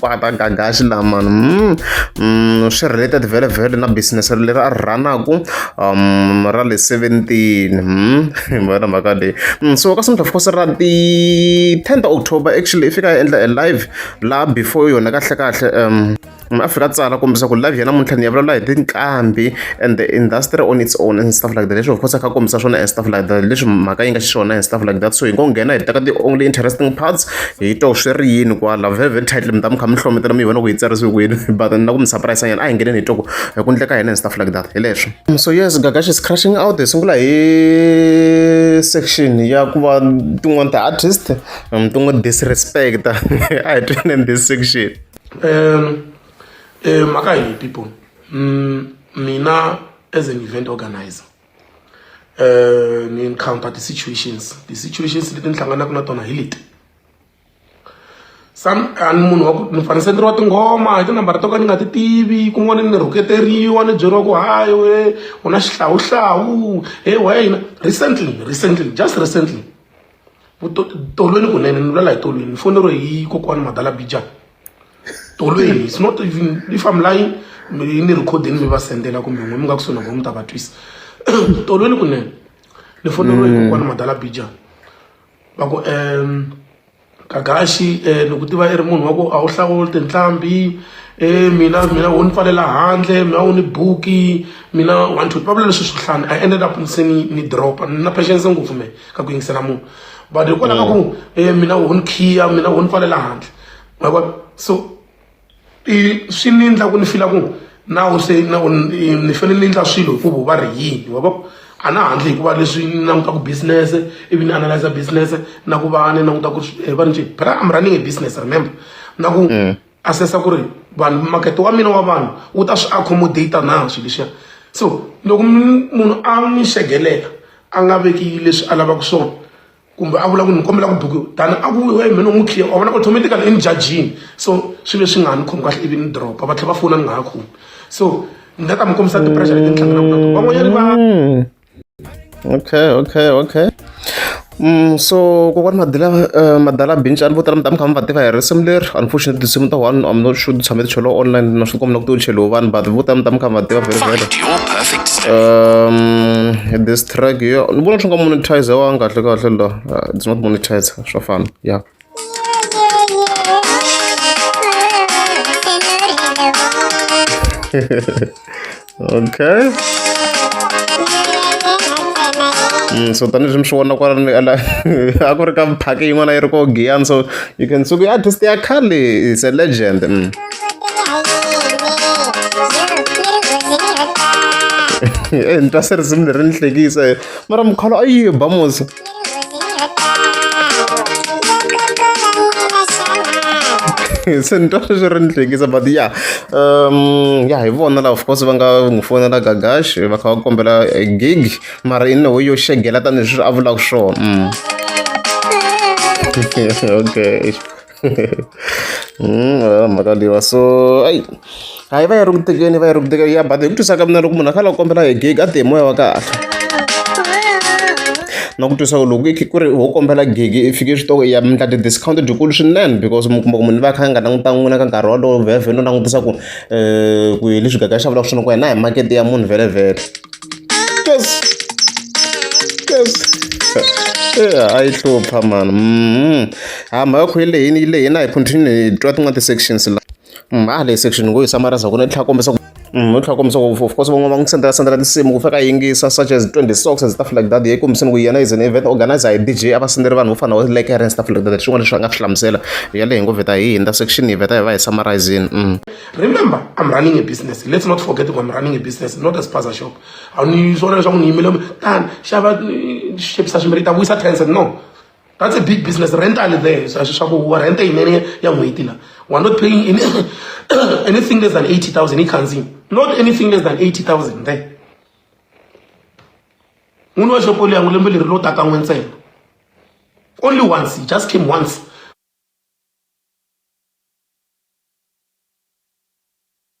pata gagaxi lama mm, mm, swi related vele vele na business leri a rhanaku um ra le 17 mm, vona mhaka leyi mm, so ka simdla fukose ra ti 10 october actually i fika ya endla a live laha before yona kahle kahle um a fika tsala kombisa ku live ya namuntlha ni ya vulavula hi tinqambi and the industry on its own and stuff like that leswi of course a kha kombisa swona and stuff like that leswi mhaka yi nga xiswona and stuff like that so hi ngo nghena hi teka the only interesting parts hi to swi ri yini kwala veve title mi ta mi kha mi hlometela mi vona ku yi tsarisiwe kwini but na ku mi surprise nyana a hi ngeneni hi toko hi ku ndleka hina and stuff like that hi leswo mm, so yes gagash is crashing out hi sungula hi section ya ku va tin'wana ta artist mm, tin'we disrespect a hi tweneni this section um um mhaka hi people Mm, mina as an event organizer uh, ni encounter ti-situations ti-situations leti ni hlanganaka na tona hi leti some ani munhu wa ku ni fane senderiwa tinghoma hi tinambara to ka ni nga ti tivi kun'wana ni rhuketeriwa ni byeriwa ku hayi we u na xihlawuhlawu he wa yina recently recently just recently tolweni kunene ni vulela hi tolweni ni foneriwe hi kokwani madala bijani tolo eyi it's not even if i'm lying ni recording mi va sendela kumbe n'we mi nga kusuhi na vona mi ta va twisa tolo ni kunene ni foneriwe mm. kokwana madala bija va ku um kagaxi um eh, ni ku tiva i ri munhu wa ku a wu hlawuli tinhlambi e mina mina wo ni pfalela handle mina wo ni buki mina one two va vula leswi swi hlani i ended up se ni ni dropa ni na patience ngopfu me ka ku yingisela munhu but hikwalaho ka ku um mina wo ni khiya mina wo ni pfalela handle ma vona so i swi ni endla ku ni fila ku nawu se na ni fanele ni endla swilo hikuva va ri yini wa vona a na handle hikuva leswi ni langutaka business ivi ni analyze business na ku va ni languta ku ri va ni njhe but I'm running a business remember na ku mm. assessa ku ri vanhu makete wa mina wa vanhu wu ta swi accommodate na swilo leswiya so loko munhu a n'wi xegelela a nga veki leswi a lavaka swona kumbe a vula ku ni kombela ku buku tani a ku we mina n'wi clear wa vona automatically i ni jajini so swi ve swi nga ha ni khomi kahle ivi ni dropa va tlhela va fona ni nga ha khomi so ni nga ta mi kombisa ti-pressure leti ni hlanganaka na tona van'wanyani va hmm. okay okay okay Mm, so kokwani madala uh, madala binci a ni vo tala mi ta mi kha mi va tiva hi risimu leri unfortunately tinsimu ta one am not sure tshame ticholo online na swi kombela ku ti u cheliwe vanhu but vo tala mi ta mi kha mi va tiva very well um, this track yo ni vona swi nga monetize wa kahle kahle la uh, it's not monetize swa fana ya okay Mm, so tanihileswi mi swi vona kwalani ala a ku ri ka phaki yin'wana yi ri ko giyani so you can suku i artist ya khale is a legend mm. e ni twa se risimu leri ni hlekisa mara mukhala a yi ba musa se ni twa sweswi ri ni hlekisa but ya um ya hi vona la of course va nga n'wi fonela gagash va kha va kombela eh, gig mara i neho yo xegela tanihileswi a vulaka swona mm. okay makaliwa so ayi a yi va yi ri ku tekeni va yi ri ku tekeni ya but hi ku twisa ka mina loko munhu a khala ku kombela hi gig a tihi moya wa kahle na ku twisa ku loko i ku ri ho kombela gig i fike swi toko ya mi endla ti-discount dyikulu swinene because mi kuma ku munhu va kha a nga langutangi n'wina ka nkarhi wolowo vhevhe no langutisa ku um ku hi leswi gaga xa vulaka swona ku hina hi makete ya munhu vhelevhele yes yes a yi hlupha mani A mhaka ya ku yi lehile yi lehile na hi continue hi twa tin'wana ti-sections la mhani leyi section ngo yi samarisa ku ni tlhela kombisa ku ni tlhela kombisa ku of course van'wana va n'wi sendela sendela tinsimu ku fika a yingisa such as twenty socks and stuff like that yi kombiseni ku yena is an event organizer hi DJ a va sendela vanhu vo fana na lekere and stuff like that swin'wana leswi a nga swi hlamusela yaleyo hi ngo vheta hi hundza section hi vheta hi va hi summarizini remember i'm running a business let's not forget ku i'm running a business not a spaza shop a ni swona leswaku ni yimile tani xava xepisa swimbirhi ta vuyisa tense no that's a big business rent ali there so swi swa ku wa rent yinene ya n'hweti la wa not paying any, anything less than 80000 yi khandzini not anything less than 80000 there n'wini wa xopo liya n'wi lembe leri lo taka n'we ntsena only once he just came once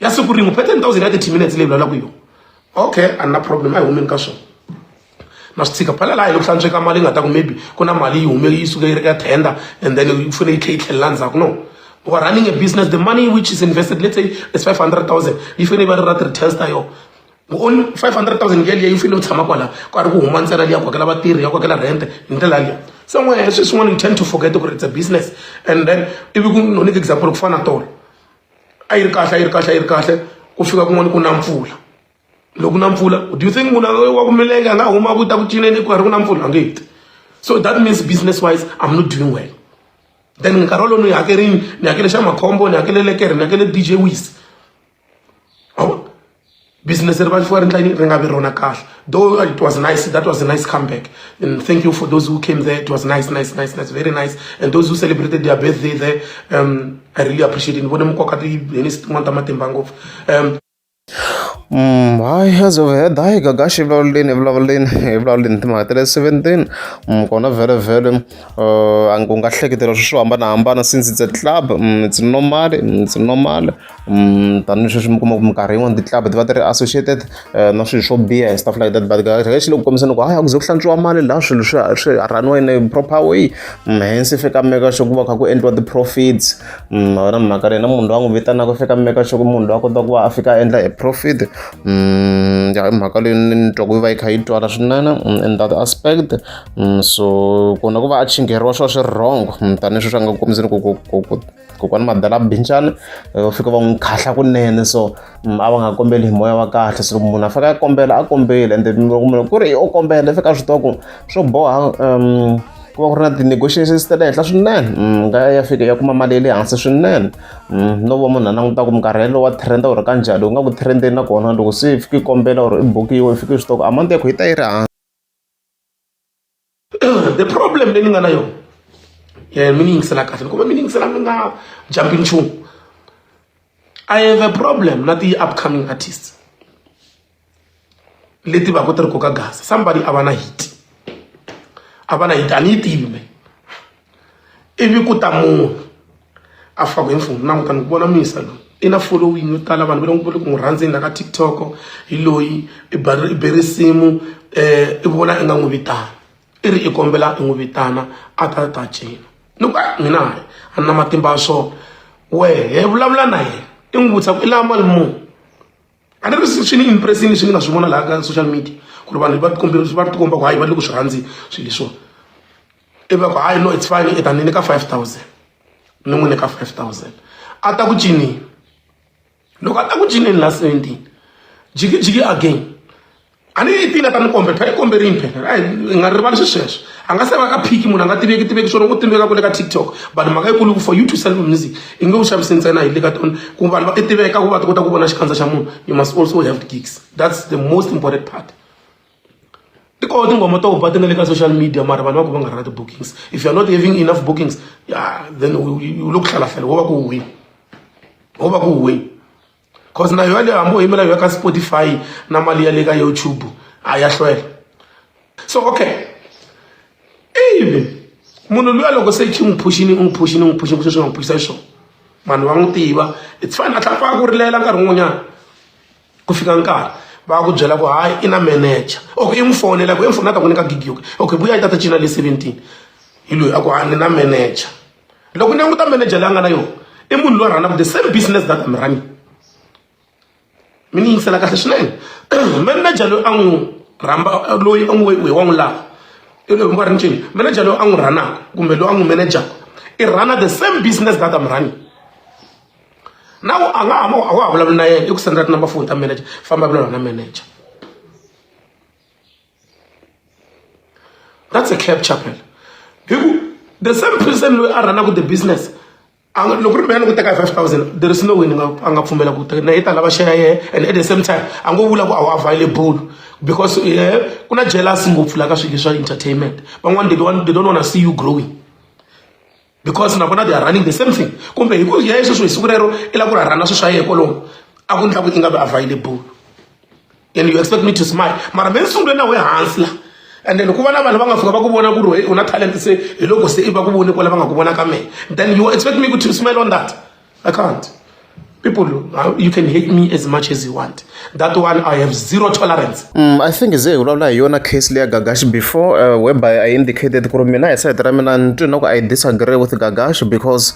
ya siku rin'we per ten thousand ya thirty minutes leyi vulavulaka yona okay a ni na problem a hi humeni ka swona na swi tshika phela laha hi loko hlantsweka mali yi nga ta ku maybe ku na mali yi hume yi suke yi ri ka tender and then yi fanele yi tlhe yi tlhelela ndzhaku no u are running a business the money which is invested let's say is five hundred thousand yi fanele yi va ri ra ti-returns ta yona only five hundred thousand ya liya yi fanele u tshama kwala ku a ri ku huma ntsena liya ku hakela vatirhi ya ku hakela rente hi ndlela liya somewhere sweswin'wana you tend to forget ku ri it's a business and then ivi ku no nyika example ku fana na tolo a yi ri kahle a yi ri kahle a yi ri kahle ku fika kun'wana ku na mpfula loko na mpfula do you think munhu wa ku milenge a nga huma ku ta ku cineni ku karhi ku na mpfula a nge heti so that means business wise i'm not doing well then nkarhi wolowo ni yi hakerini ni hakele xa makhombo ni hakele lekere ni hakele dj wise business ri vanhliwa ri ndla yini ri nga vi rona kahle though uh, it was nice that was a nice comeback and thank you for those who came there it was nice nice nice nice very nice and those who celebrated their birthday there um, i really appreciate it ni vone mukoka tiheni tin'wana ta matimba ngopfu um Mm, hayi azovheda hayi gagashi vulavuleni vulavuleni vulavuleni timhaka ta le seventeen mm, kona vhele vhele uh, u nga hleketela swi swo hambanahambana since it's a club mm, it's normal it's normal tanihileswi mi kuma ku minkarhi yin'wani ti-club ti va ti ri associated eh, na swilo swo biha and stuff like that but kahle xi le ku kombiseni ku hayi a ku ze ku hlantswiwa mali laha swilo swi swi raniwa in a proper way mm, hence fika meka sure ku va kha ku endliwa ti-profits mm, wena mhaka leyi na munhu loyi a n'wi vitanaka fika meka sure ku munhu loyi a kota ku va a fika a endla a profit mm, ya hi mhaka leyi ni twa ku yi va yi kha yi twala swinene in that aspect so kona ku va a chingheriwa swa swi wrong tanihileswi swi nga ku kombiseni ku kokwani madala binjani eh, u fika va n'wi khahla kunene so mm, a va nga kombeli hi moya wa kahle so munhu a fika a kombela a kombeli ende loko munhu ku ri u kombela i fika a swi tiva ku swo boha um ku va ku ri na ti-negotiations ta le henhla swinene mm, nga ya fika ya kuma mali ya le hansi swinene mm, no va munhu a languta ku minkarhi wa trenda u ri ka njhani u nga ku trendeni nakona loko se i fike i kombela or i bukiwa i fike i swi tiva ku amount ya ku yi ta yi ri hansi the problem leyi ni nga na yona eh, mi ni yingisela kahle kumbe mi ni yingisela mi nga jambi nchumu i have a problem na ti-upcoming artists leti va ku ti ri koka gasa somebody a va na hit a va na hit a ni yi tivi me ivi ku ta munhu a faka hi mfumo na kutani ku vona misa loyi i na following yo tala vanhu va le va le ku n'wi rhandzeni la ka tiktok hi loyi i i be risimu um i vona i nga n'wi vitana i ri i kombela i n'wi vitana a ta ta cina ni ku a mina hayi a ni na matimba ya swona wehe vulavula na yena i n'wi vutisa ku i lava mali muni a ni ri swi ni impressini swi ni nga swi vona laha ka social media ku ri vanhu va tikombela va tikomba ku hayi va le ku swi rhandzi swilo leswiwani i va ku hayi no it's fine i ta ni nyika five thousand ni n'wi nyika five thousand a ta ku cinini loko a ta ku cinini la seventeen jikijiki again a ni yi tile ta ni kombe phela i kombe rini phela a hi nga rivali swi sweswo a nga se va ka phiki munhu a nga tiveki tiveki swona u tiveka ku le ka tiktok but mhaka yikulu ku for you to sell music i nge u xavisi ntsena hi le ka tona ku vanhu va ti tiveka ku va ti kota ku vona xikandza xa munhu you must also have gigs that's the most important part tikoho tinghoma to ba ti nga le ka social media mara vanhu va ku va nga ri na ti-bookings if you're not having enough bookings ya then u le ku hlalahlala wo va ku huhini wo va ku huhini cause na yoyaleyo hambi u yimela yoya ka spotify na mali ya le ka youtube a ya hlwela so okay ivi munhu luya loko se xi n'wi phuxini u n'wi phuxini u n'wi phuxini sweswi nga n'wi phuxisa xiswona vanhu va n'wi tiva it's fine a tlhela pfa a ku rilela nkarhi wun'wanyana ku fika nkarhi va ku byela ku hayi i na manager ok i n'wi fonela ku i n'wi fonela ta n'wi nyika gigi yoke ok vuya yi tata cina le seventeen hi loyi a ku hayi ni na manager loko ni languta manager leyi a nga na yona i munhu loyi a rhanaka the same business that am running mi ni yingisela kahle swinene manager loyi a n'wi rhamba loyi a n'wi we wa n'wi lava i loyi mi va ri ncini manager loyi a n'wi rhanaka kumbe loyi a n'wi manager i rhana the same business that am running na u a nga ha a wa ha vulavuli na yena i ku sendela tinumber foni ta manager famba vulavula na manager that's a clap chapel hi ku the same person loyi a rhanaka the business loko ri mina ni ku teka hi five thousand there is no way ni nga a nga pfumela ku teka na yi ta lava share yehe and at the same time a ngo vula ku a wu available because eh, ku na jealous ngopfu la ka swilo swa entertainment van'wana they don't want to see you growing because na vona they are running the same thing kumbe hi ku ya hi sweswo hi siku rero i lava ku rharhana swilo swa yena kolomo a ku ndla ku i nga vi available and you expect me to smile mara me ni sungule na we hansi la and then ku va na vanhu va nga fika va ku vona ku ri u na talent se hi loko se i va ku voni kwala va nga ku vona ka mehe then you expect me to smile on that I can't. People, you can hate me as much as you want. That one, I have zero tolerance. Mm, I think ze ulawula hi yona case leya Gagash before uh, whereby I indicated ku ri mina hi side ra mina ni twi na ku I disagree with Gagash because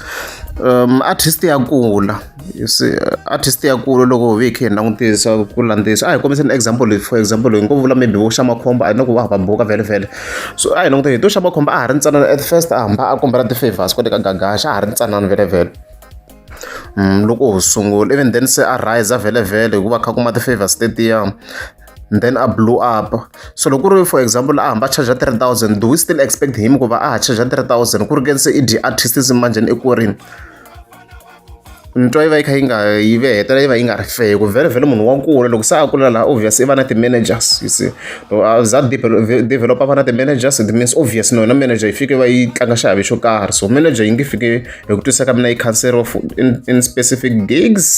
um, artist ya kula you see artist ya kula loko hi khe hi langutisa ku landzisa a hi kombiseni example for example hi ngo vula maybe vo xa makhombo a hi na ku va va buka vhele vhele so a hi languteni hi to xava khumba a ha ri ntsanana at first a hamba a kombela ti-favors kwale ka gagaxa a ha ri ntsanana velevele mm, loko ho sungula even then se a rise a velevele hikuva kha kuma ti-favors tetiya then a blew up so loko ri for example a hamba charge 3000 do we still expect him ku va a ha charge 3000 ku ri ke se i dyi artist manjhani eku rini ntwa yi va yi kha yi nga yi ve hetelela yi va yi nga ri fair ku vhele vhele munhu wa kula loko se a kula laha obvious i va na ti-managers you see loko a za developer va na ti-managers it means obvious na yona manager yi fike va yi tlanga xiave xo karhi so manager yi nge fike hi ku twisisa ka mina yi cancel of in, in specific gigs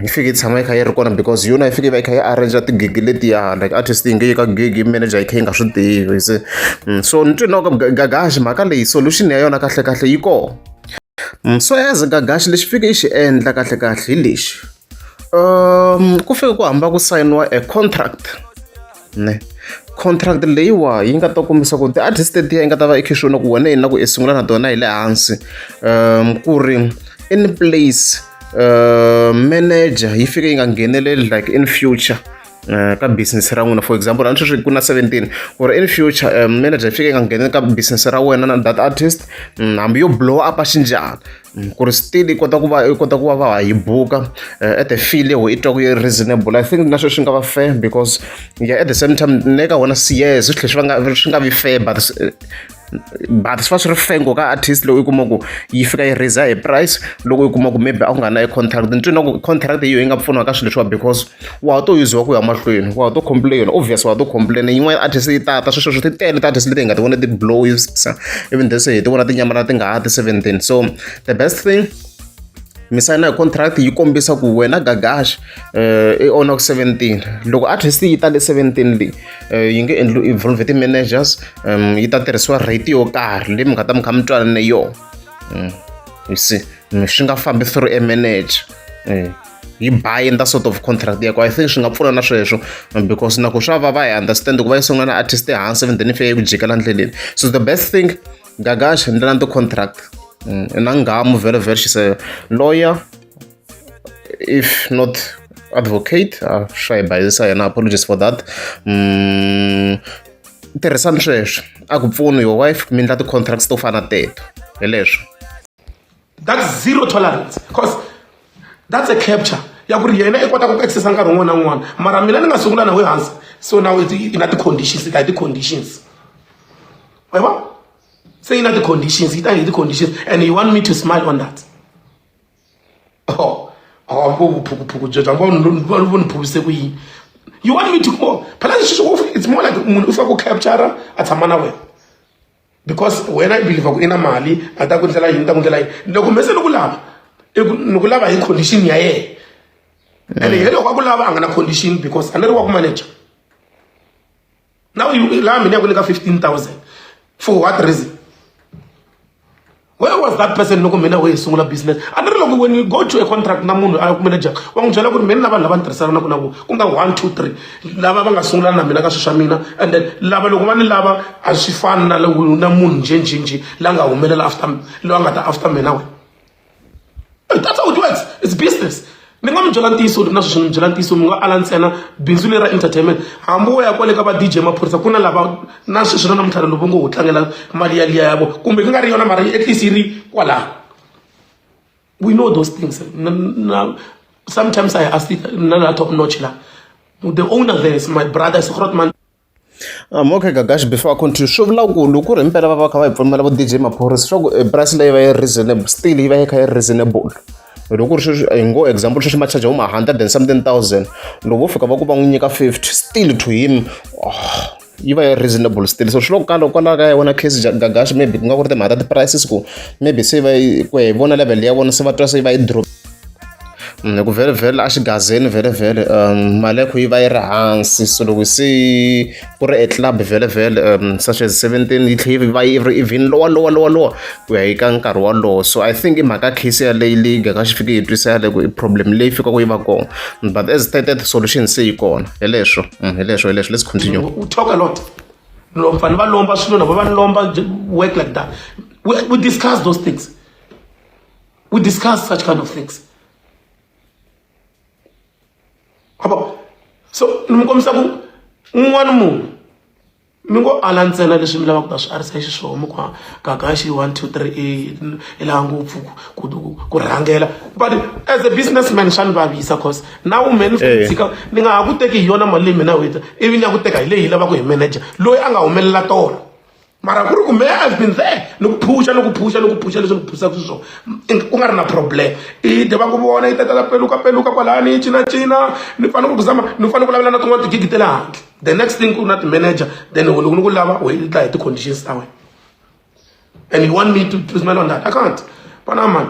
yi fike yi tshama yi kha yi ri kona because yona yi fike yi va yi kha yi arrange tigigi letiya like artist yi nge yi ka gigi manager yi kha yi nga swi tivi se mm, so ni twi na ku gagaxi mhaka leyi solution ya yona kahlekahle yi kona So as Gagash lexi fike i xi endla kahle kahle hi lexi ku fike ku hamba ku sayiniwa a contract ne contract leyiwa yi nga ta kombisa ku ti-artist letiya yi nga ta va i khe swona ku wena yini na ku i sungula na tona hi le hansi um ku ri in place um manager yi fike yi nga ngheneleli like in future Eh, ka business ra n'wina for example a ni sweswi ku na 17 ku ri in future eh, manager yi fike yi nga ngheni ka business ra wena na that artist mm, hambi yo blow up a xinjhani mm, ku ri still yi kota ku va yi kota ku va va ha yi buka eh, at the feel leho i twa ku yi reasonable i think na sweswi swi nga va fair because yeah at the same time ne ka wona sies swi tlhe swi va nga swi nga vi fair but but swi va swi ri fengo ka artist loko i kuma ku yi fika yi raiser hi price loko i kuma ku maybe a ku nga na i contract ni twina ku contract yiyo yi nga pfuniwa ka swilo leswiwa because wa ha to yuziwa ku ya mahlweni wa ha to complain obvious wa ha to complain yin'wana artist yi tata sweswo swi ti tele ta-artist leti hi nga ti vona ti blowisa even though se hi ti vona tinyamana ti nga ha ti seventeen so the best thing mi sayina hi contract yi kombisa ku wena gagash eh, i ona ku 17 loko artist yi tale 17 leyi eh, yi nge endli involve ti-managers um yi ta tirhisiwa rate yo karhi leyi mi nga ta mi kha mi twanane yona um you see swi nga fambi through a manager um yi buy in that sort of contract yako i think swi nga pfuna na sweswo because na ku swa va va hi understand ku va yi sungula na artist ehansi and then if ya yi ku jikela ndleleni so the best thing gagasha ndlela ni ti-contract na ngamu very very she's a lawyer if not advocate uh, shy by this and apologies for that mm, tirhisani sweswo a ku pfuni your wife mi endla ti-contracts to fana teto hi leswo that's zero tolerance because that's a capture ya ku ri yena i kota ku ku accessa nkarhi wun'wana na wun'wana mara mina ni nga sungula na we hansi so now i na ti-conditions i ta hi ti-conditions wa vona se i na ti-conditions i ta hi ti-conditions and you want me to smile on that oh awambo oh, vuphukuphuku byebyo ambo va vo ni phukise ku yini you want me to go phela leswi swi it's more like munhu u fika ku capture a tshama na wena because wena i believe ku i na mali a ta ku ndlela yini ta ku ndlela yini loko mese ni ku lava ni ku lava hi condition ya yena ene hi loko a ku lava a nga na condition because a ni ri wa ku manager Now you laha mina ya ku le ka 15000 for what reason where was that person loko mina wo yi sungula business a ni ri loko when you go to a contract na munhu a ku manager wa n'wi byela ku ri mina na vanhu lava ni tirhisanaka na vona ku nga one two three lava va nga sungula na mina ka swilo swa mina and then lava loko va ni lava a swi fani na na munhu njhenjhenjhe la nga humelela after loyi a nga ta after mina wena that's how it works it's business ni nga mi byela ntiyiso na sweswi ni byela ntiyiso mi nga ala ntsena bindzu leri ra entertainment hambi wo ya kwale ka va dj maphorisa ku na lava na sweswi na namuntlha lovo ngo ho tlangela mali ya liya ya vo kumbe ku nga ri yona mara at least yi ri kwalaho we know those things sometimes i ask na la top notch la the owner there is my brother sikrotman Okay Gagash before I continue swi vula ku loko ku ri himpela va va kha va hi pfumela vu D_J maphorisa swa ku price leyi yi va yi ri reasonable still yi va yi kha yi ri reasonable loko ku ri sweswi hi ngo example sweswi ma charge vo ma hundred and something thousand loko vo fika va ku va n'wi nyika fifty still to him yi va yi ri reasonable still so swi le ka loko kwalaya ka ya wena case Gagash maybe ku nga ku ri timhaka ta ti-prices ku maybe se va yi ku ya hi vona level ya vona se va twa se va yi . hi ku vhele vhele a xigazeni vhele vhele um mali ya kho yi va yi ri hansi so loko se ku ri e club vhele vhele um such as seventeen yi tlhe yi va yi ri even lowa lowa lowa lowa ku ya yi ka nkarhi wolowo so i think i mhaka case yaleyi leyi gaka xi fike yi twisa yaleyo ku i problem leyi fikaka yi va kona but as stated solution se yi kona hi leswo mm, hi leswo hi leswo let's continue u talk a lot lomfana va lomba swilo navo va lomba work like that we, we discuss those things We discuss such kind of things. Abo, so ni mi kombisa ku un'wana munhu mi ngo ala ntsena leswi mi lavaka ta swi arisa hi xiswona kwa kakaxi one two three eight i laha ngopfu ku ku rhangela but as a businessman swa ni vavisa cause na woman eh. tshika ni nga ha ku teki hi yona mali leyi mina wita ivi ni ya ku teka hi leyi yi lavaka hi manager loyi a nga humelela tona mara ku ri ku me i've been there ni ku phusha ni ku phusha ni ku phusha leswi ni phusaka swi swona ku nga ri na problem i deva ku vona yi tatala peluka peluka kwalani yi cinacina ni fanele ku ku zama ni fanele ku lavela na tin'wana tigigi te le handle the next thing ku na ti-manager then loko ni ku lava u yi tla hi ti-conditions ta wena and you want me to, to smell on that i can't panamani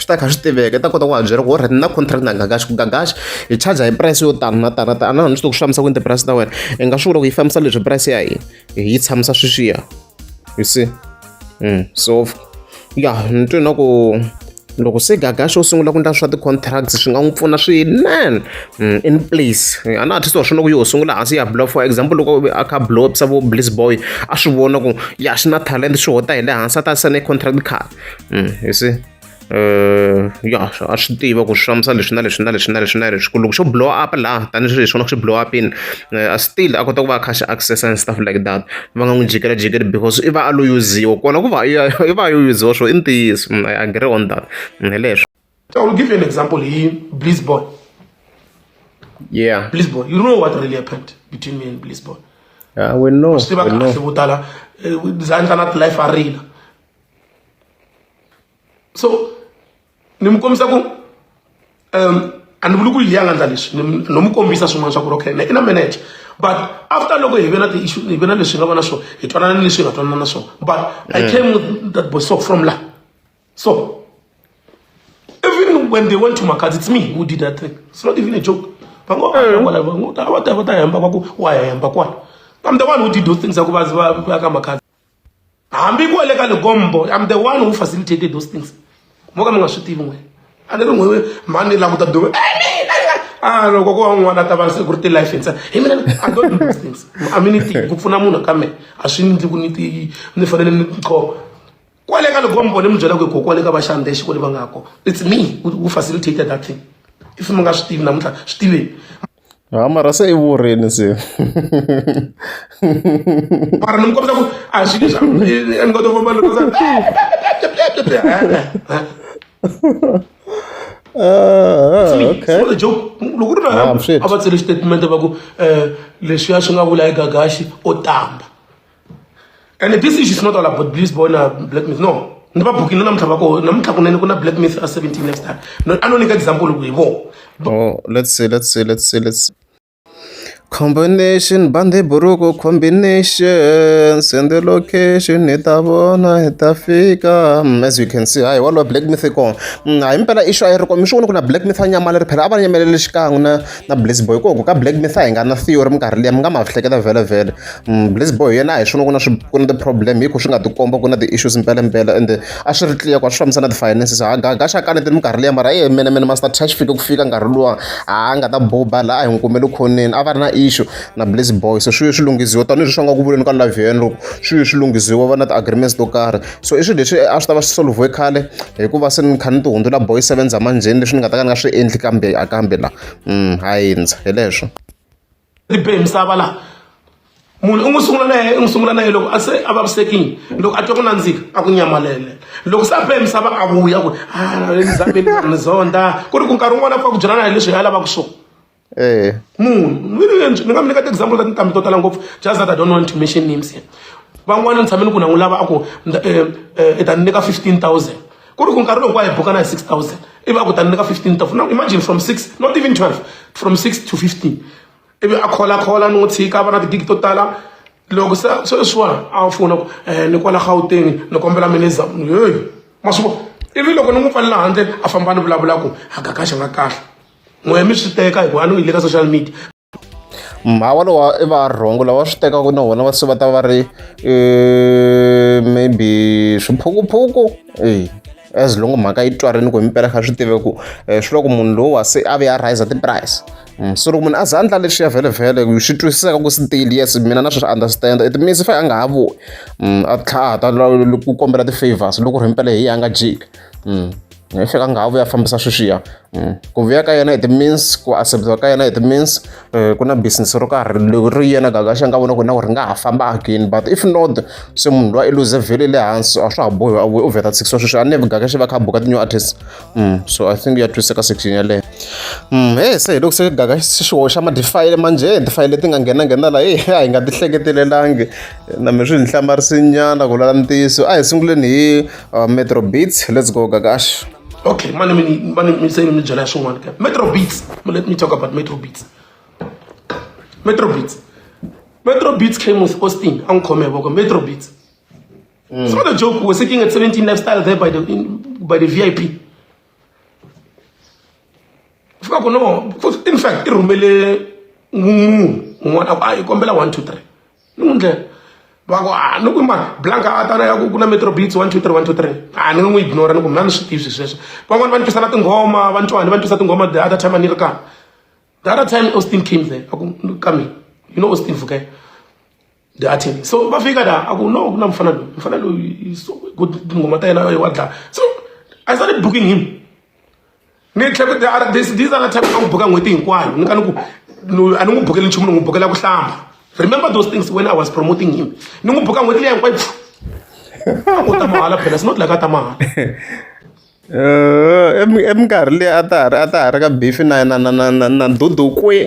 swi ta kha swi tiveka i ta kota ku va byela ku orhati na contract na gagaxi ku gagaxi hi charger hi price yo tano na tano ta a na ni swi to ku swi fambisa ku ni ti-price ta wena hi nga swi vula ku yi fambisa leswi price ya hina hi yi tshamisa sweswiya you see mm. so ya ni twe na ku loko se gagaxi u sungula ku endla swa ti-contracts swi nga n'wi pfuna swinene mm, in place eh, a na artist wa swona ku yo sungula hansi ya blow for example loko a kha blowpsa vo bliss boy a swi vona ku ya xi na talent swi hota hi le hansi a ta sane contract card mm, you see uh, ya a swi tiva ku swi hlamusa leswi na leswi na leswi na leswi na leswi ku loko xo blow up laha tanihi leswi vona swi blow up in uh, a still a kota ku va a kha xi access and stuff like that va nga n'wi jikela jikeli because i va a lo yuziwa kona ku va i va yo yuziwa swo i ntiyiso mm, i agree on that mm, hi leswo I will give you an example here, Bliss Boy. Yeah. Bliss Boy. You know what really happened between me and Bliss Boy. Yeah, we know. We know. So, nimukombisa ku um a ni vuli ku yi ya nga ndla leswi no mi kombisa swin'wana swa ku ri okay i na manager but after loko hi ve na ti-issue hi ve na leswi hi nga va na swona hi twanana ni leswi hi nga twanana na swona but i came with that boy so from la So, even when they went to Makati, it's me who did that thing. It's not even a joke. I'm the one who did those things. I'm the one who facilitated those things. mo ka mi nga swi tivi n'wina a ni ri n'wi mhani ni languta dume a loko ko va n'wana ta va se ku ri ti-life ntsena hi mina i don't do those things a mi ni tivi ku pfuna munhu ka mina a swi ndli ku ni ti ni fanele ni khoma kwale ka loko mbone mi byela ku ko kwale ka va xande xi kwale va nga ko it's me who facilitated that thing if mi nga swi tivi namuntlha swi tiveni ha mara se i vurheni se mara ni mi kombisa ku a swi leswa ni nga to famba loko okay. joke loko ri na a va tsele xitatimende va ku um leswiya swi nga vula hi gagaxi o tamba ende this issue is not all about bliss boy na black myth no ni va bukini namuntlha va ko namuntlha kunene ku na black myth a 17 next time a no nyika example ku hi vo oh let's see let's see let's see let's combination bande buruku combination send the location hi ta vona hi ta fika mm, as you can see hayi walowo black myth kona mm, hayi mpela isho a yi ri kona mi swi vona ku na black myth a nyamala ri phela a va nyamelele xikan'we na na blaze boy koku ka black mitha hi nga na theory minkarhi liya mi nga ma hleketa vhele vhele mm, blaze boy yena hi swona ku na swi ku na ti-problem hi ku swi nga tikomba ku na ti-issues mpelempela ende a swi ri clear ku a swi fambisa na ti-finances ha gaga xa kanetini minkarhi liya mara ye mene mene master touch fike ku fika nkarhi luwa a nga ta boba laha hi n'wi kumele khoneni a va ri na issue na blaze boy so swi swi lunghisiwa tanihileswi swi nga ku vuleni ka live yena loko swi swi lunghisiwa va na ti-agreements to karhi so i swilo leswi a swi ta va swi solviwe khale hikuva se ni kha ni ti hundzula boy seven za manjheni leswi ni nga ta ka ni nga swi endli kambe a kambe la um ha hindza hi leswo ri be misava laha munhu u n'wi sungula na yena i n'wi sungula na yena loko a se a vavisekile loko a twa ku nandzika a ku nyamalele loko se a be misava a vuya ku a ah, ni zameni ni zonda ku ri ku nkarhi wun'wana a pfa ku byelana hi leswi hi a lavaka swona munhu ni nga mi nyika ti-example ta tintambi to tala ngopfu just that i don't want to mention names here van'wana ni tshame ni ku na n'wi lava a ku eh, eh, i ta ni nyika fifteen thousand ku ri ku nkarhi lowu ku a hi bukana hi six thousand ivi a ku ta ni nyika fifteen thousand now imagine from six not even twelve from six to fifteen ivi a kholakhola ni n'wi tshika a va na tigigi to tala loko se sweswiwani a fona ku um ni kwala gauteng ni kombela mineza heyi ma swi vona ivi loko ni n'wi pfalela handle a famba ni vulavula ku a gakaxa nga kahle n'we mi swi teka hikuva a no yi le ka social media mhawa lowa i varhongo lava swi tekaka na vona va se va ta va ri eh, maybe swiphukuphuku e as long mhaka yi twarini ku himpela kha swi tive ku eh, swi loko munhu lowa se a ve a riser ti-price mm, so loko munhu a za a ndla leswiya vhelevhele swi twisiseka ku still yes mina na swi swi understand it means fa a nga ha vuyi mm, a tlhaha ta ku kombela ti-favors loko ri himpela hi yi a nga jiki mm. yi fika nga ha vuya fambisa sweswiya mm. ku vuya ka yena hi ti-means ku acceptiwa ka yena hi ti-means eh, ku na business ro karhi leri yena gagaxa nga vona ku na ku ri nga ha famba again but if not se munhu loyi i luze vhele le hansi a swa ha bohi a vuye u vheta six wa sweswi a ni vi gagaxa va kha buka ti-new artist mm. so i think ya twiseka section yaleyo mm. e se hi loko se gagaxa swi hoxa ma-defile manjhe ti-file leti nga nghenanghena laha e a hi nga ti hleketelelanga na mi swi ni hlamarisinyana ku lala ntiyiso a hi sunguleni hi uh, metro beats let's go gagash okay mani mi mani mi se mi byela swin'wana ka metro beats let me talk about metro beats metro beats metro beats came with austin a n'wi khome voko metro beats mm. it's not a joke we're sitting at 17 lifestyle there by the in, by the vip fika ku no in fact i rhumele n'wun'wun'wana a ku a yi kombela one two three ni n'wi ndlela va ku a ni ku ma blanka a tana ya ku ku na metro beats one two three one two three a ni n'wi ignora ni ku mna ni swi tivi swi sweswo van'wani va ni twisa na tinghoma va ni twani va ni twisa tinghoma the other time a ni ri kaya the other time austin came there a ku ka mina you know austin vukela the attorney so va fika da a ku no ku na mfana loyi mfana loyi tinghoma ta yena wa dlaya so i started booking him ni tlhe ku these these are the type ta ku buka n'hweti hinkwayo ni ka ni ku a ni n'wi bukeli nchumu ni n'wi bukela ku hlamba remember those things when i was promoting him ni n'wi buka n'hweti leyi hinkwayo u ta mahala phela it's not like a ta mahala eh, eminkarhi leyi a ta ha ri a ta ha ri ka bifi na na na na na dudu kwi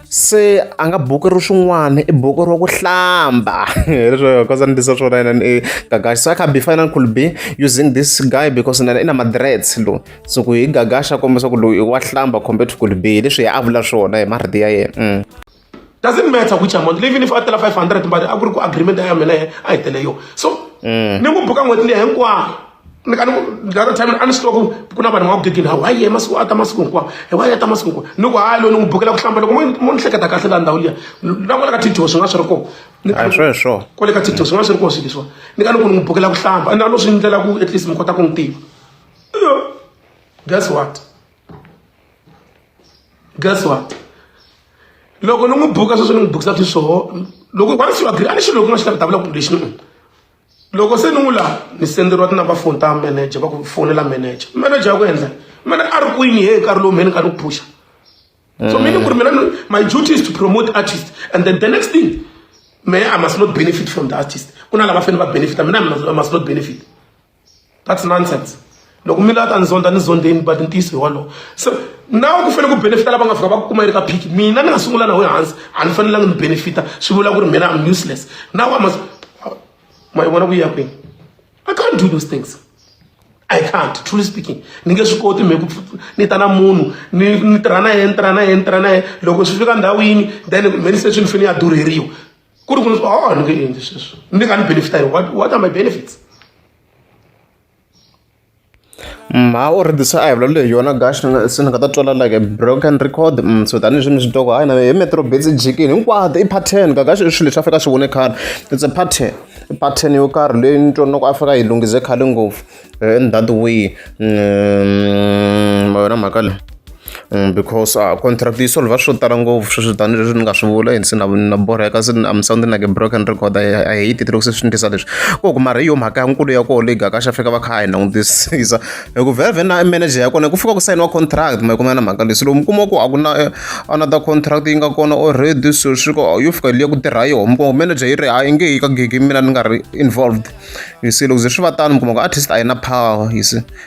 se a nga buku ri swin'wana i buku ro ku hlamba leswo kosa ni tisa swona yena ni gagaxa so i can be final could be using this guy because na i na madrets lo so ku hi gagaxa kombisa ku loyi wa hlamba compared to could be leswi hi a vula swona hi marito ya yena mm. doesn't matter which amount even if a tela 500 but a ku ri ku agreement ya mina a yi tele yo so mm. ni n'wi buka n'hweti leyi hinkwayo ni ka ni the other time a ni swi tiva ku ku na vanhu va ku gegini hawu hayi ye masiku a ta masiku hinkwawo hi wa ya ta masiku hinkwawo ni ku hayi loyi ni n'wi bukela ku hlamba loko mo ni hleketa kahle laha ndhawu liya na kwale ka tiktok swi nga swi ri kona a swi swo kwale ka tiktok swi nga swi ri kona swilo leswiwa ni ka ni ku ni n'wi bukela ku hlamba na no swi ndlela ku at least mi kota ku n'wi tiva guess what guess what loko ni n'wi buka sweswi ni n'wi bukisa sweswoho loko once you agree a ni xilo loko nga xi lavitavula ku lexi ni loko se ni n'wi laha ni senderiwa tinumber phone ta manager va ku fonela manager manager ya ku endla mane a ri kwini he nkarhi lowu mhe ni ka ni ku phusha so mm. meaning ku ri mina my duty is to promote artist and then the next thing me i must not benefit from the artist ku na lava fanele va benefita mina i must not benefit that's nonsense loko mi la ta ni zonda ni zondeni but ntiyiso hi wolowo so nawe ku fanele ku benefita lava nga fika va ku kuma yi ri ka phiki mina ni nga sungula naho hansi a ni fanelanga ni benefita swi vula ku ri mina am useless nawe ama ma yi vona ku yi ya kwini i can't do those things i can't truly speaking ni nge swi koti mi ku ni ta na munhu ni ni tirha na yena ni tirha na yena ni tirha na yena loko swi fika ndhawu yini then many station ni fanele ya durheriwa ku ri ku ni oh ni nge endli sweswo ni nga ni benefita hi what what are my benefits Mm, ha u ri this a hi vulavula hi yona gash se ni nga ta twala like a broken record mm, so tanihi swi ni swi toko hayi na hi metro bits jikini hinkwato i pattern ka gash i swilo leswi a fika swi vone khale it's a pattern i pattern yo karhi leyi ni twonaka a fika yi lunghize khale ngopfu in that way mm, ma yona mhaka leyi Because a contract yi solve-a swo tala ngopfu sweswi tanihi leswi ni nga swi vula and se na na borheka se I'm sounding like a broken record I I hate it loko se swi ni twisa leswi ku hi ku mara hi yona mhaka ya nkulu ya koho leyi gaka xa fika va kha hi langutisisa hi ku vhele vhele na manager ya kona ku fika ku sayiniwa contract ma yi kuma na mhaka leyi se loko mi kuma ku a ku na another contract yi nga kona already so swi ku yo fika liya ku tirha yona mi kuma ku manager yi ri a yi nge yi ka gig mina ni nga ri involved you see loko ze swi va tano mi kuma ku artist a yi na power you see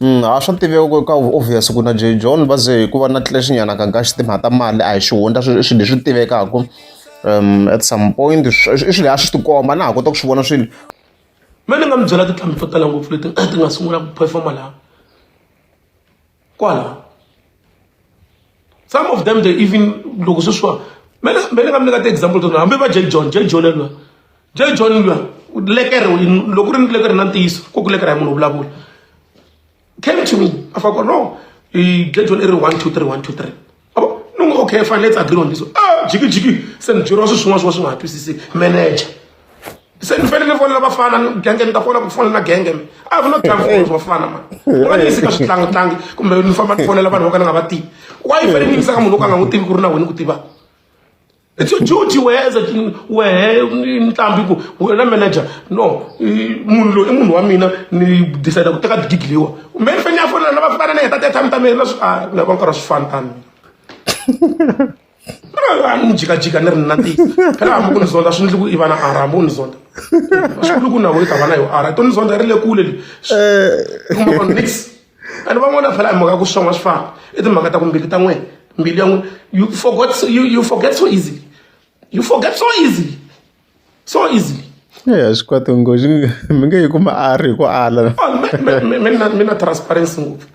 a swa tiveka ku ka obvious ku na Jay John va ze hikuva na tlulax nyana ka kahle timhaka ta mali a hi xihundla i swilo leswi tivekaka um at some point i swilo a swi tikomba na ha kota ku swi vona swilo me ni nga mi byela tintlhambi to tala ngopfu leti ti nga sungula ku performa laha kwala some of them they even loko sweswiwa mele mele ka mi nyika ti-example to hambi va j john j john luya j john luya lekere loko ri ni lekere na ntiyiso ku ku lekere ya munhu vulavula came to me a fa ku no j john i ri one two three one two three abo ni n'wi okay fine let's agree on this ah jikijiki se ni byeriwa swi swin'wana swin'wana swi nga ha twisiseki manager se ni fanele ni fonela vafana genge ni ta fonela ku fonela genge mi i have no time for those vafana mani ni va ni yisi ka switlangutlangi kumbe ni famba ni fonela vanhu vo ka ni nga va tivi why i fanele ni yisa ka munhu wo ka nga n'wi tivi ku ri na wena ku tiva it's your duty wehe as a wehe nqambi ku wena manager no munhu loyi i munhu wa mina ni decide ku teka digigi leyiwa kumbe ni fanele ni ya fonela na vafana ni heta ti-athami ta mina na swi a ni lava nkarhi wa swifana tani mina ni jikajika ni ri na ti phela hambi ku ni zonda swi ndli ku i vana ara hambi ku ni zonda swikulu ku nawo yi ta vana yo ara i to ni zonda ri le kule li kuma vanhu nix and van'wana phela hi mhaka ku swon'wa swi fana i timhaka ta ku mbilu ta n'wena mbilu ya n'wina you forgot you, you forget so easily you forget so easily so easily eya swi kwati ngozi mi nge yi kuma a ri hi ku ala mina transparency ngopfu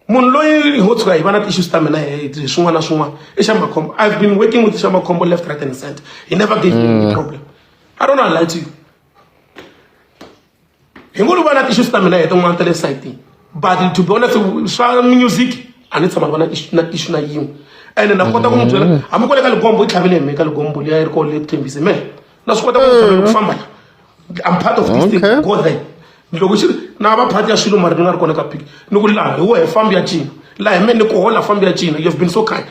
munhu loyi ho tshuka hi va na ti-issues ta mina hi swin'wana na swin'wana i xa makhombo i've been working with xa makhombo left right and center he never gave me any problem i don't know lie to you hi ngo ni va na ti-issues ta mina hi tin'wana ta le sayitini but to be honest swa music a ni tshama ni va na na issue na yin'we ene na kota ku n'wi byela hambi ku le ka ligombo i tlhavele hi me ka ligombo liya yi ri ko le ku thembise me na swi kota ku ku famba I'm part of this okay. thing go there loko xi na va part ya swilo mari ni nga ri kona ka pick ni ku laha hi wehe fambi ya cina laha hi mene ni ku hola fambi ya cina you've been so kind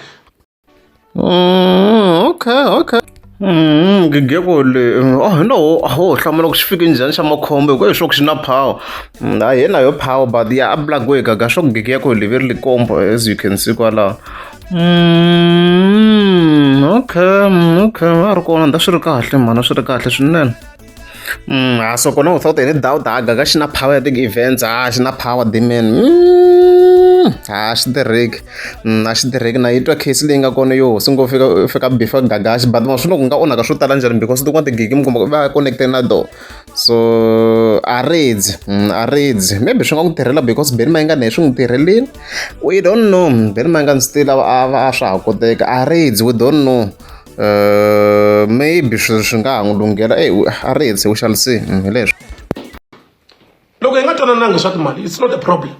mm, okay okay Mm, gigeko le mm, oh no ho hlamula ku swi fike njhani xa makhombo hikuva leswaku xi na power mm, a hi na yo power but ya a black way gaga swa ku gigeko le ve ri likombo as you can see kwalaho Mm, okay okay a ri kona nda swi ri kahle mhana swi ri kahle swinene mm, ha so kona without any doubt ha gaga xi na power ya ti-events ha xi na power dimen mm, ha xi tirheki mm, a xi tirheki na yi twa case leyi nga kona yo hosi ngo fika fika before gaga xi but ma swi loko nga onhaka swo tala njhani because tin'wana tigigi mi kuma va connecte na door so a ridzi a ridzi maybe swi nga n'wi tirhela because beni ma yi nga na hi swi n'wi tirhelini we don't know ve ni manga ni swi tila a swa ha koteka a raids we don't know uh, maybe swi swi nga ha n'wi lunghela e a raids u xalisini mm, hi leswo loko hi nga twanananga swa timali it's not a problem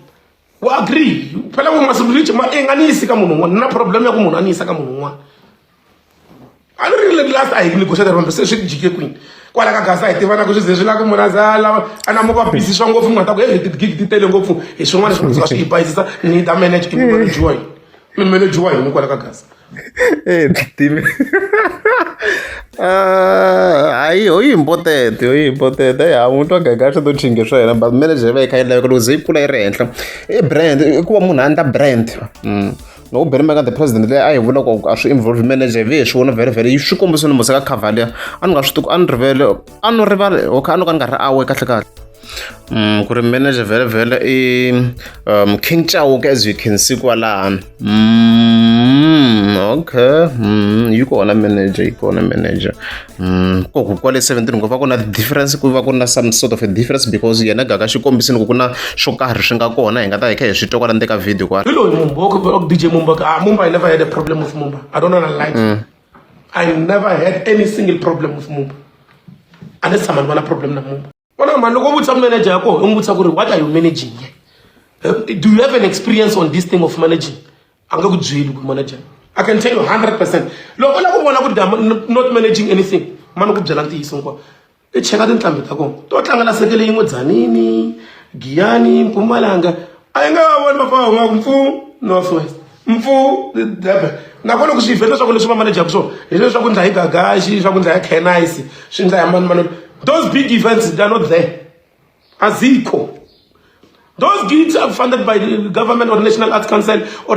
wa agree phela vo masiku lichi ma enganiyisi ka munhu un'wana na problem ya ku munhu a ni yisa ka munhu un'wana a ni ri le last a hi negotiate rombe se swi jike kwini kwala ka gasa hi tivana ku swi ze swi lava ku munhu aza lava a na muka busy swa ngopfu munhu ta ku hey tigigi ti tele ngopfu hi swin'wana swi nga swi hi bayisisa ni ta manage i manage wa yini mi manage wa yini kwala ka gasa eh timi hayi ho important ho important hayi ha mutwa gaga swi to chinge swa yena but manager va yi kha yi laveka loko ze yi kula yi ri henhla i brand i ku va munhu a ndla brand mm. loko Barry Maka the president leyi a yi vula ku a swi involve manager hi ve swi vona very very swi kombisa ni museka cavalier a ni nga swi tiku a ni rivele a ni rivale okay a ni ka ni nga ri awe kahle kahle um ku ri manager vhele vhele i um king chauke as you can see kwalano mm, okay mm, yi kona manager yi kona manager Mm, ko ku kwale 17 ku va ku na difference ku va ku na some sort of a difference because yena gaka xi kombisini ku ku na swo karhi swi nga kona hi nga ta hi kha hi swi twa kwala ndeka video kwala hi loyi mumboko vela ku dj mumboko ah mumba i never had a problem with mumba i don't know na lie mm. i never had any single problem with mumba a ni tshama ni va na problem na mumba vona mani loko u vutisa manager ya kona u n'wi vutisa ku ri what are you managing ye do you have an experience on this thing of managing a nga ku byeli ku manager i can tell you 100 percent loko u lava ku vona ku ri not managing anything mani ku byela ntiyiso hinkwawo i cheka tinqambi ta kona to tlanga lasekele yin'we dzanini giyani mpumalanga a yi nga voni vafana va nga ku mpfu north west mfu nakona ku swi vheta leswaku leswi va manejaka swona hi sweswi swa ku ndla hi gagaxi swa ku ndla ya canise swi ndla ya mani mani those big events they are not there azikho those gigs are funded by the government or national arts council or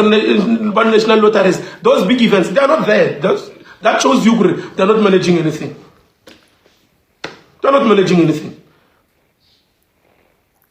by national lotteries those big events they are not there those, that shows you kuri they are not managing anything they are not managing anything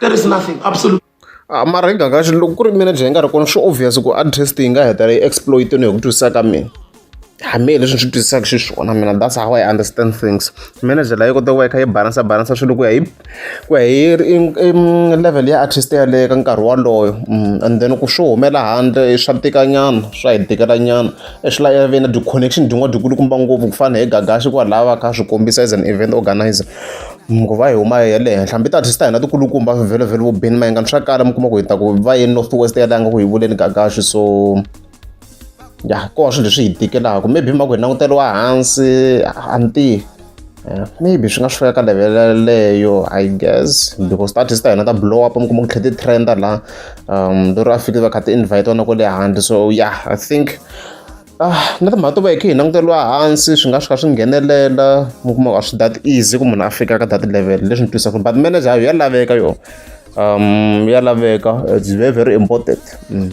there is nothing absolutely ah, mara hi ganga xi loko ku ri manager hi nga ri kona swi obvious ku address yi nga heta yi exploitini hi ku twisisa ka mina hambi leswi swi twisisaka xiswona mina that's how i understand things manager layo kota ku va yi kha yi balansa balansa swilo ku ya hi ku ya hi level ya artist yaleyo ka nkarhi waloyo mm, and then ku swo humela handle swa tikanyana swa hi tikelanyana swi lava ve na ti-connection din'wana dikulukumba ngopfu ku fana hi gagaxi kwalaha va kha swi kombisa as an event organizer nguva yi huma yi ya le henhla hambi ta ta hina tikulukumba vhilivhili vo bini mayengani swa kala mi kuma ku hi ta ku va ye north west ya langa ku hi vuleni gagaxi so ya ko wa swilo leswi hi tikelaka maybe mhaka hi languteriwa hansi a ni tivi eh, maybe swi nga swi fika ka level yaleyo i guess because ta artist ta hina ta blow up mi kuma ku tlhe ti-trenda laha um lero a fikile va kha ti-invite wana kwale handle so yeah i think Ah, na timhaka to va hi khe hi languteriwa hansi swi nga swi kha swi nghenelela mi kuma a swi that easy ku munhu a fika ka that level leswi ni twisaka but manager ya laveka yo um ya laveka it's very very important mm.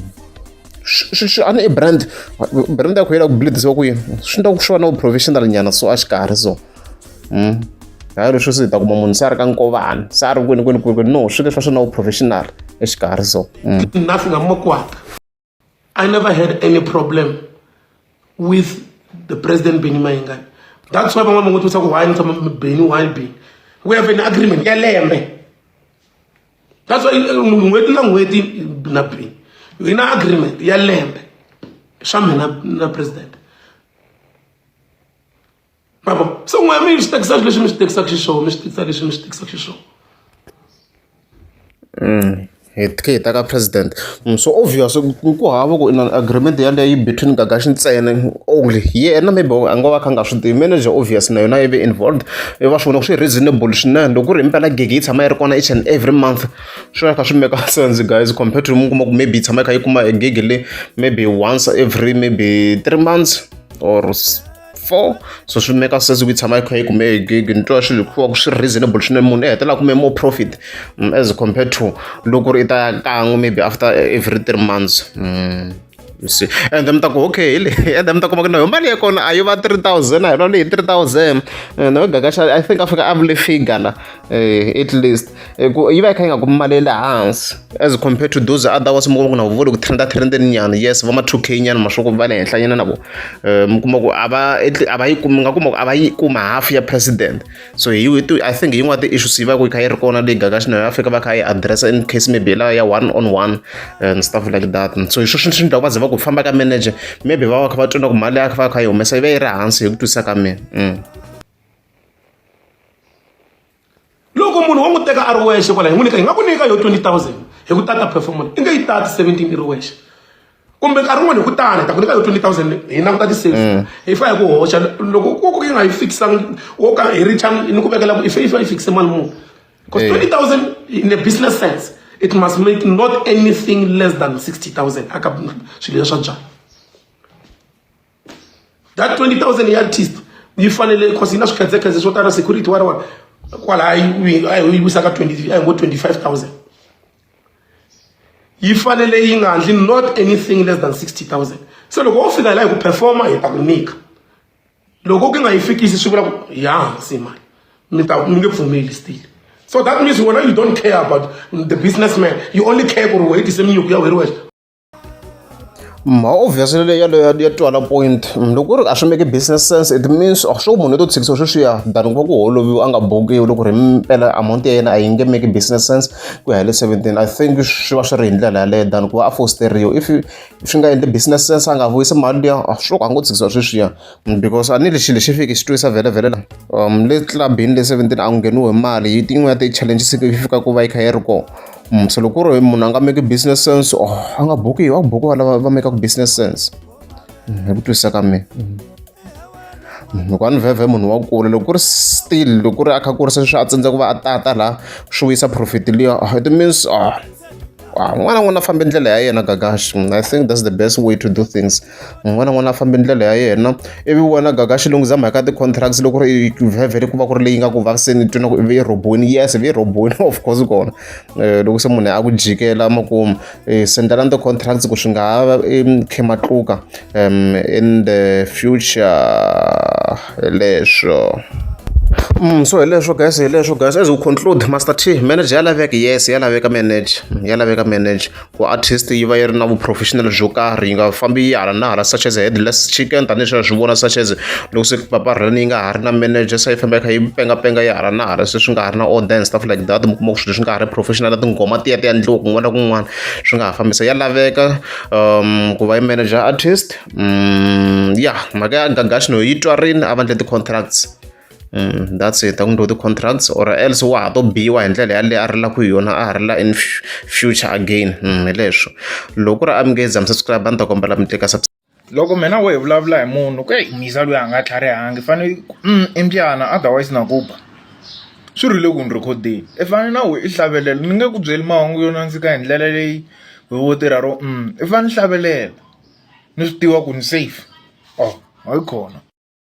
a ni i brand brand ya ku yela ku bleedisiwa ku yini swi ndla ku swi va na professional nyana so a xikarhi so mm. hayi leswi swi hi ta kuma munhu se a ri ka nkovana se a ri kwini kwini kwini no swi leswi va swi na professional exikarhi so mm. na swi nga makwaka I never had any problem with the president Benny Mayengani. That's why van'wana van'wana twisaka why ni tshama Benny why Benny. We have an agreement ya lembe. That's why uh, n'hweti na n'hweti na Benny. We na agreement ya lembe swa mina na president. ma vo se n'wina mi swi tekisa leswi mi swi tekisaka xiswona mi swi tekisa leswi mi swi tekisaka xiswona mm, hi tlhe hi ta ka president mm, so obvious ku hava ku inan agreement yaleyo yi between gagaxi ntsena only yena maybe a nga va kha nga swi tivi manager obvious na yona yi ve involved i va swi vona ku swi reasonable swinene loko ku ri impela gigi yi tshama yi ri kona each and every month swi va kha swi meka sense guys compared to mi kuma ku maybe yi tshama yi kha yi kuma gigi le maybe once every maybe three months or four so swi meka sense ku yi tshama yi kha yi kume hi gig ni twa swilo hikuva ku swi ri reasonable swinene munhu i hetelela kume more profit mm, as compared to loko ri i ta ya kan'we maybe after every three months mm. see and then mi ta ku okay hi leyi and then mi ta kuma ku na yo mali ya kona a yi va three thousand a hi lwa leyi three thousand and no gagaxa i think a fika a vule figure la at least hi ku yi va yi kha yi nga kumi mali ya le hansi as compared to those other ones mi kuma ku na vuvoni ku trenda trendeni nyana yes va ma two k nyana mashoku va le henhla nyana na vona eh, mi kuma ku a va a va yi kumi nga kuma ku a va yi kuma half ya president so hi i think hi yin'wana ti-issues yi va ku yi kha yi ri kona leyi gaga xina ya afrika va kha yi addressa in case maybe la ya one on one and stuff like that so hi sweswi swi ndlaku va ze va ku famba ka manager maybe va va kha va twa na ku mali ya va kha yi humesa yi va yi ri hansi hi ku twisisa ka mina mm. loko munhu wo n'wi teka a ri wexe kwala hi n'wi nyika hi nga ku nyika yo 20000 hi ku tata performance i nge yi tati 17 i ri wexe kumbe nkarhi wun'wana hi ku tani hi ta ku nyika yo 20000 hi languta ti-sales mm. hi fa hi ku hoxa loko ku ku yi nga yi fikisanga wo ka hi richa ni ku vekela ku ife ife yi fikise mali muni because 20000 in a business sense it must make not anything less than 60000 aka swilo leswa byala that 20000 ya artist yi fanele cause yi na swikhetsekhetse swo tala security wa riwani kwalaha yi wisaka 20 a hi ngo 25000 yi fanele yi nga handli not anything less than 60000 se loko wo fika hi laha hi ku performa hi ta ku nyika loko ku nga yi fikisi swi vula ku ya hansi mali mi ta mi nge pfumeli still so that means wena you don't care about the businessman you only care ku ri wena yi tise minyuku ya wena wexe ma obviously leyi yaleyo ya twala point loko ku ri a swi make business sense it means a swo munhu leto tshikisa sweswiya than ku va ku holoviwa a nga bukiwi loko ri mpela amount ya yena a yi nge make business sense ku ya hi le seventeen i think swi va swi ri hi ndlela yaleyo than ku va a fosteriwa if swi nga endli business sense a nga vuyisi mali liya a swo ka a ngo tshikisa sweswiya because a ni lexi lexi fiki xi twisa vhele vhele la um le club-ini le seventeen a ku ngheniwi hi mali yi tin'wana ya ti-challenges yi fika ku va yi kha yi ri kona. Mm, so loko ku ri munhu a nga make business sense oh, a nga bukiwa a ku bukiwa lava va mekaka business sense mm, hi ku twisisa ka mina mm. loko a ni vhevhe munhu wa kula loko ku ri still loko ku ri a kha kurisa leswi a tsandza ku va a tata laha swi wisa profit liya oh, it means ah, ah, n'wana n'wana a fambe ndlela ya yena gagash i think that's the best way to do things n'wana n'wana a fambi ndlela ya yena ivi wena gaga xilungu zama hi ka ti-contracts loko ri vhevhele ku va ku ri leyi nga ku vaviseni twi na ku ivi yi roboni yes ivi yi roboni of course kona eh, loko se munhu a ku jikela makumu eh, sendelani ti-contracts ku swi nga ha va khe matluka in the future leswo Mm, so hileswo guys hileswo guys as we conclude master t manager ya laveka yes ya laveka manager ya laveka manager ku artist yi va yi ri na vu-professional byo karhi yi nga fambi yi hala na hala such as headless chicken tanihi sweswi swi vona such as loko se paparheni yi nga ha ri na manager se yi famba yi kha yi pengapenga yi hala na hala se swi nga ha ri na order and stuff like that mi kuma ku swilo swi nga ha ri professional tinghoma tiya ti endliwa kun'wana na kun'wana swi nga ha fambisa ya laveka um ku va yi manager artist um ya mhaka ya gagaxino yi twarini a va endle ti-contracts that's it a ku endliwa ti-contracts or else wa ha to biwa hi ndlela yaleyo a ri la ku yona a ha ri la in future again hi leswo loko ku ri a mi nge za mi subscribe a ni ta kombela mi tlika loko mina wo hi vulavula hi munhu ku eyi misa loyi a nga tlharihangi fanele mm, i mbyana otherwise na ku ba swi rile ku ni rhekhodeni i fanele na we i hlavelela ni nge ku byeli mahungu yo nandzika hi ndlela leyi hi wo tirha ro mm i fanele hlavelela ni swi tiva ku ni safe oh hayi khona